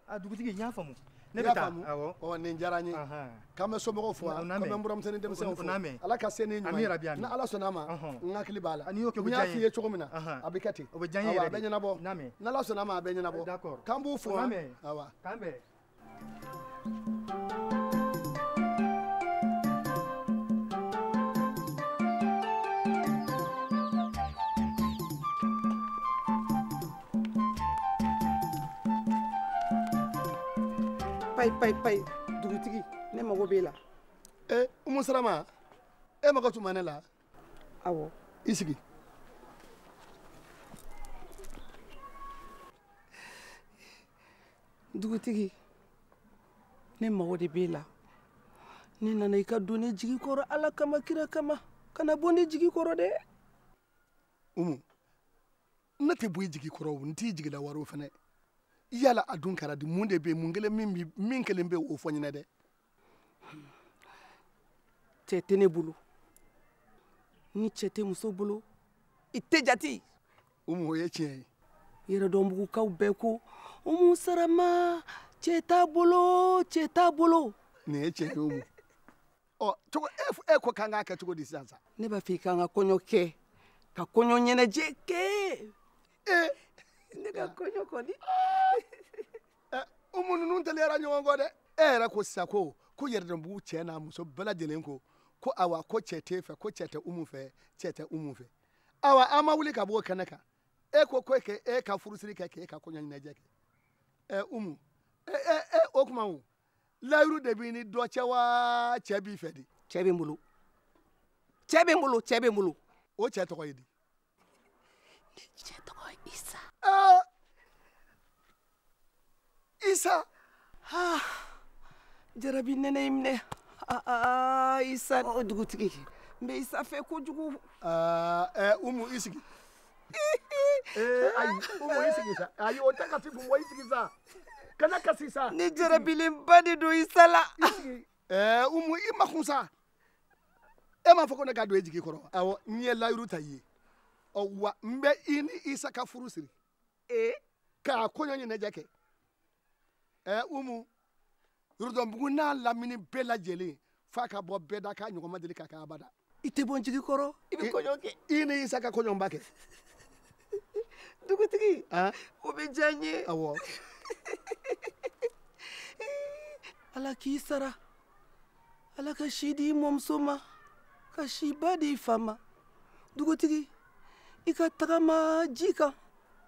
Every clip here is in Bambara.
a dugutigi n y'a faamu ne bɛ taa awɔ ɔ nin diyara n ye k'an bɛ somɔgɔw fo u n'a mɛn k'an bɛ n buramuso ni denmisɛnw fo ala ka se ni ɲuman ye ni ala sɔnna a ma n hakili b'a la n'i y'o kɛ o bɛ diya n ye n y'a f'i ye cogo min na a bɛ kɛ ten o bɛ diya n ye yɛrɛ de a bɛ ɲɛnabɔ ni ala sɔnna a ma a bɛ ɲɛnabɔ k'an b'u fo u n'a mɛn awa k'an bɛn payi payi payi dugutigi ne mago b'e la ee eh, umu sarama e mago tun bɛ ne la awɔ i sigi dugutigi ne mago de b'e la ne nana i ka don ne jigi kɔrɔ ala kama kira kama kana bɔ ne jigi kɔrɔ dɛ umu ne tɛ bɔ i jigi kɔrɔ n t'i jigi lawaaro fɛnɛ yala a dun kɛra di mun de bɛ mun kɛlen min min kɛlen bɛ o fɔ n ɲɛna dɛ cɛ tɛ ne bolo ni cɛ tɛ muso bolo i tɛ jate umu o ye tiɲɛ ye yɛrɛdɔnbugukaw bɛɛ ko umu sarama cɛ t'a bolo cɛ t'a bolo nin ye tiɲɛ ye o ɔ cogo e ko k'an k'a kɛ cogo di sisan sa. ne b'a fɛ i ka n ka kɔɲɔ kɛ ka kɔɲɔ ɲɛnajɛ kɛ. ee ne ka kɔɲɔ kɔni. ɛ umu ninnu teliyara ɲɔgɔn kɔ dɛ. e yɛrɛ ko sisan ko ko yɛrɛdɔnbugu cɛ n'a muso bɛɛ lajɛlen ko ko awa ko cɛ t'e fɛ ko cɛ tɛ umu fɛ cɛ tɛ umu fɛ awa an ma wuli ka bɔ o kɛnɛ kan e ko ko e ka furusiri kɛ k'e ka kɔɲɔ ɲɛnajɛ kɛ ɛ umu ɛ ɛ o tuma o layiru de b'i ni dɔ cɛ wa cɛ b'i fɛ de. cɛ bɛ n bolo cɛ bɛ n bolo cɛ bɛ n bolo. o cɛ tɔgɔ ye di. ne cɛ tɔgɔ ye isa. aa isa. aa jarabi nɛnɛ y'i minɛ aa isa. ɔ dugutigi n bɛ isa fɛ kojugu. aa ɛ umu i sigi. ee ayi umu i sigi sa ayi o tɛ kasi kun bɔ i sigi sa kana kasi sa. ne jarabilenba de don isa la. ɛɛ umu i makun sa e m'a fɔ ko ne ka don e jigi kɔrɔ awɔ n ye layiru ta i ye ɔ wa n bɛ i ni isa ka furu siri. ee k'a kɔɲɔ ɲɛnajɛ kɛ ɛɛ umu. yɛrɛdɔnbugu n'a lamini bɛɛ lajɛlen f'a ka bɔ bɛɛ da k'a ɲɔgɔn ma deli ka kɛ abada i tɛ bɔ n jigi kɔrɔ i bɛ kɔɲɔ kɛ i ni isa ka kɔɲɔba kɛ dugutigi o bɛ diya n ye awɔ ala k'i sara ala ka si di i mɔmuso ma ka siba di i fa ma dugutigi i ka tagama ji kan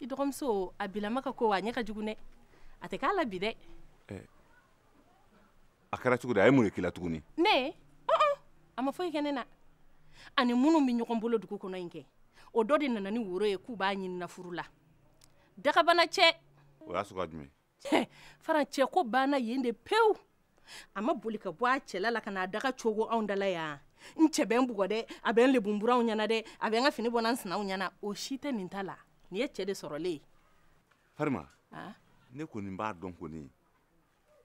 i dɔgɔmuso a bilama ka ko wa a ɲɛ ka jugu dɛ a tɛ k'a la bi dɛ eh, a kɛra cogo di a ye mun de k'i la tuguni ne uh-uh. a ma foyi kɛ ne na a ni minnu bɛ ɲɔgɔn bolo dugu kɔnɔ in kɛ o dɔ de nana ni woro ye k'u b'a ɲinina furu la dakabanancɛ o y'a sugu jumɛn faran cɛ ko banna yen de pewu a ma boli ka bɔ a cɛla la ka na a daga cogo anw dala yan n cɛ bɛ n bugɔ dɛ a bɛ n lebu n buranw ɲɛna dɛ a bɛ n ka fini bɔ n na n sinaw ɲɛna o si tɛ nin ta la nin ye cɛ de sɔrɔlen ye farima ne kɔni b'a dɔn kɔni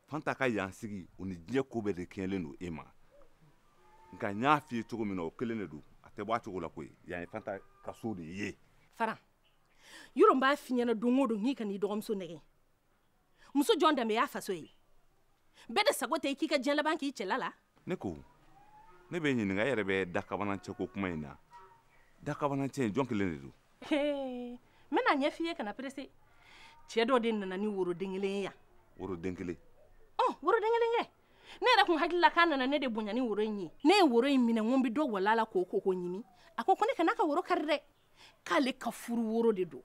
fanta ka yan sigi o ni diɲɛ ko bɛɛ de kɛɲɛlen don e ma nka n y'a f'i ye cogo min na o kelen de don a tɛ bɔ a cogo la koyi yan ye fanta ka so de ye faran yɔrɔ n b'a f'i ɲɛna don o don k'i kan'i dɔgɔmuso nɛgɛn muso jɔn danbe y'a faso ye bɛɛ de sago tɛ i k'i ka diɲɛ laban k'i cɛla la ne ko ne b'e ɲininka e yɛrɛ bɛ dakabanancɛ ko kuma in na dakabanancɛ in jɔn kelen de don n bɛn'a ɲɛf'i ye kana perese cɛ dɔ de nana ni woroden kelen ye yan woroden kelen ɔ woroden kelen kɛ ne yɛrɛ kun hakili la k'a nana ne de bonya ni woro in ye ne ye woro in minɛ n ko n bɛ dɔ walan a la k'o ko k'o ɲimi a ko ko ne kan'a ka woro kari dɛ k'ale ka furu woro de don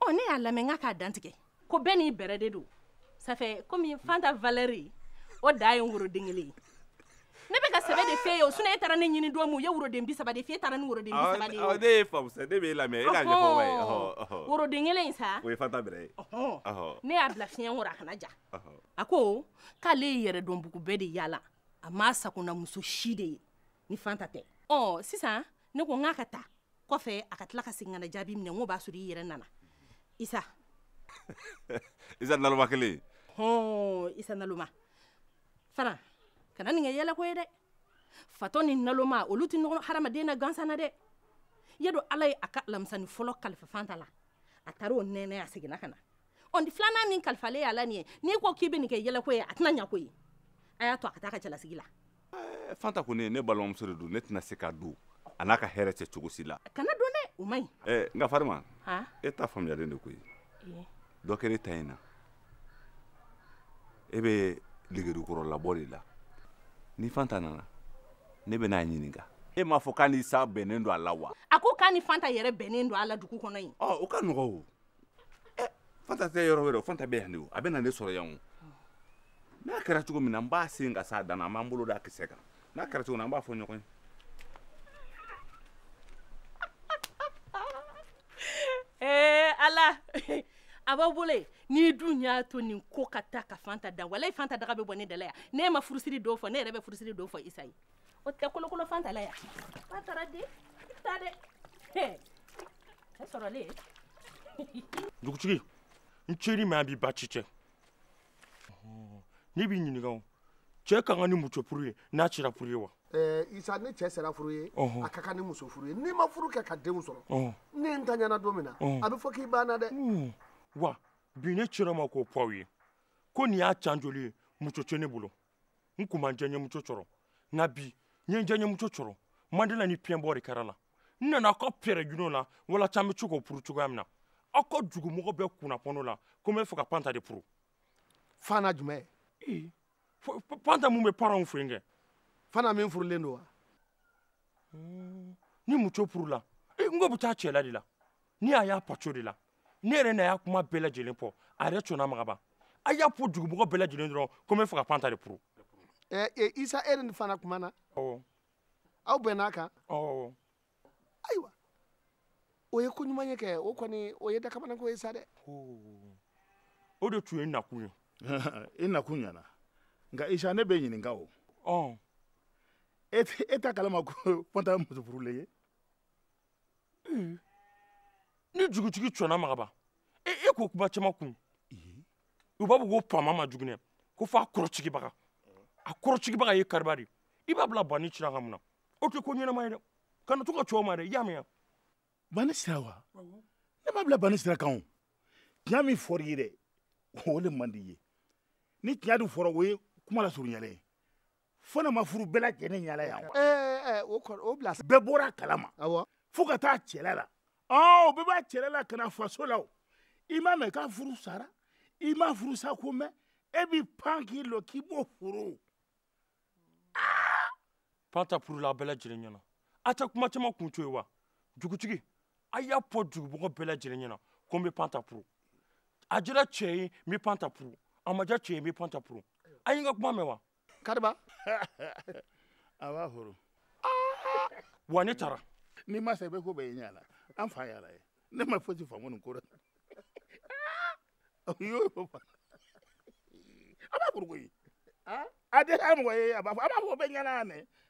ɔ ne y'a lamɛn k'a k'a dantigɛ ko bɛɛ n'i bɛrɛ de don safɛ komi fanta valɛri o da ye woroden kelen ye ne bɛ ka sɛbɛ de f'e ye o sinɔn e taara ne ɲini don min u ye woroden bi saba de f'e taara ni woroden bi saba de ye o. ne y'e faamu sa ne b'e lamɛn e k'a ɲɛfɔ n ma ye. woroden kelen in sa. o ye fanta bɛrɛ ye. ne y'a bila fiɲɛ kɔrɔ a kana ja. a ko k'ale ye yɛrɛdɔnbugu bɛɛ de yaala a m'a sakonamuso si de ye ni fanta tɛ. ɔ sisan ne ko n k'a ka taa kɔfɛ a ka tila ka segin ka na jaabi minɛ n k'o b'a sɔrɔ i yɛrɛ nana isa isa naloma kelen hɔn isa naloma fana kana nin kɛ yɛlɛko ye dɛ fatɔ ni naloma olu tɛ nɔrɔ hadamaden na gansan na dɛ i y'a dɔn ala ye a ka alamisani fɔlɔ kalifa fanta la a taara o nɛnɛ a seginna ka na ɔ ni filanan min kalifalen y'a la nin ye n'i ko k'i bɛ nin kɛ yɛlɛko ye a tɛna ɲa koyi a y'a to a ka taa a ka cɛlasigi la eh, fanta kɔni ne balimamuso de don ne tɛna se ka don a n'a ka hɛrɛ cɛ cogo si la kana don dɛ o man ɲi eh, nka farima e ta faamuyalen de koyi eh. dɔ kɛra e ta in na e bɛ ligirikɔrɔ labɔ de la ni fanta nana ne bɛn'a ɲininka e m'a fɔ k'a n'isa bɛnnen don a la wa a ko k'a ni fanta yɛrɛ bɛnnen don a la dugu kɔnɔ yen ɔ o ka nɔgɔ o ɛ fanta tɛ yɔrɔ wɛrɛ o fanta bɛ yan de o a bɛ na ne sɔrɔ yan o n'a kɛra cogo min na n b'a sen ka s'a dan na an b'an bolo d'a kisɛ kan n'a kɛra cogo min na an b'a fɔ ɲɔgɔn ye ee eh, ala a b'a bolo ye n'i dun y'a to nin ko ka taa ka fanta dan walayi fanta daga bɛ bɔ ne dala yan n'e ma furusiri don fɔ ne yɛrɛ bɛ furusiri don fɔ isa ye o tɛ kolokolo fanta la yan ba taara di i ta dɛ cɛ sɔrɔlen dugutigi n ceri mɛ a b'i baasi tɛ ne b'i ɲininka o cɛ ka kan ni muso furu ye n'a cira furu ye wa eh, isa ni cɛ sera furu ye a ka kan ni muso furu ye n'i ma furu kɛ ka denw sɔrɔ ni n taɲana don min na a bɛ fɔ k'i banna dɛ hmm. wa bi ne cira ma k'o fɔ aw ye ko nin y'a can joli ye muso tɛ ne bolo n kun ma jɛɲɛmuso sɔrɔ nka bi n ye jɛɲɛmuso sɔrɔ mandela ni piyɛnbɔ de kɛra la n nana aw ka pɛrɛ juno la walasa an bɛ se k'o puru cogoya min na aw ka dugumɔgɔ bɛɛ kunnafoni o la ko n bɛ fɛ ka panta de puru fanta jumɛn ee panta mun bɛ paranw fɛ yen kɛ fanta min furulen don wa hmm, ni muso purula n k'o bɛ taa cɛla de la ni a y'a paco de la ne yɛrɛ n'a y'a kuma bɛɛ lajɛlen fɔ a yɛrɛ cɔnna ma ka ban a y'a fɔ dugumɔgɔ bɛɛ lajɛlen dɔrɔn ko n bɛ fɛ ka panta de puru eh, eh, isa e ni fanta kumana awɔ aw bɛnn'a kan awɔ ayiwa o ye ko ɲuman ye kɛ o kɔni o ye dakabanako ye sa dɛ o de tun y'i nakun ye i nakun ɲana nka isa ne b'i ɲininka o ɔ e t'a kalama ko fanta ye muso furulen ye eh, ni jugutigi cɔnna ma ka ban e e ko kuma caman kun u b'a fɔ ko faama man jugu dɛ ko f'a kɔrɔsigibaga a kɔrɔsigibaga ye kariba de i b'a bila banni sira kan mun na o tɛ ko ɲɛnama ye dɛ kana to ka cɛw ma dɛ i y'a mɛn banni sira wa ne b'a bila banni sira kan o tiɲɛ min fɔr'i ye dɛ o de man di i ye ni tiɲɛ dun fɔra o ye kuma lasurunyalen ye fanta ma furu bɛɛ lajɛlen ɲɛna yan o bila bɛɛ bɔra a kalama fo ka taa cɛla la o bɛɛ b'a cɛla la ka na faso la o i m'a mɛn k'a furu sara i m'a furu sako mɛn e b'i pan k'i lɔ k'i b'o furu fanta furula a bɛɛ lajɛlen ɲɛna a tɛ kuma caman kun to ye wa dugutigi a y'a fɔ dugumɔgɔ bɛɛ lajɛlen ɲɛna ko n bɛ panta puru a diyara cɛ ye n bɛ panta puru a ma diya cɛ ye n bɛ panta puru a ye n ka kuma mɛn wa kariba a b'a furu wa ne taara n'i ma sa i bɛ ko bɛɛ ye ɲɛ la an fa y'a la ye ne ma fosi faamu nin ko la o y'o fɔ a b'a furu koyi a tɛ k'a mɔgɔ ye a b'a fɔ a b'a fɔ bɛɛ ɲɛna yan dɛ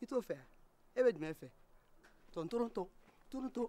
i t'o fɛ e bɛ jumɛn fɛ tɔn toron tɔn toron tɔn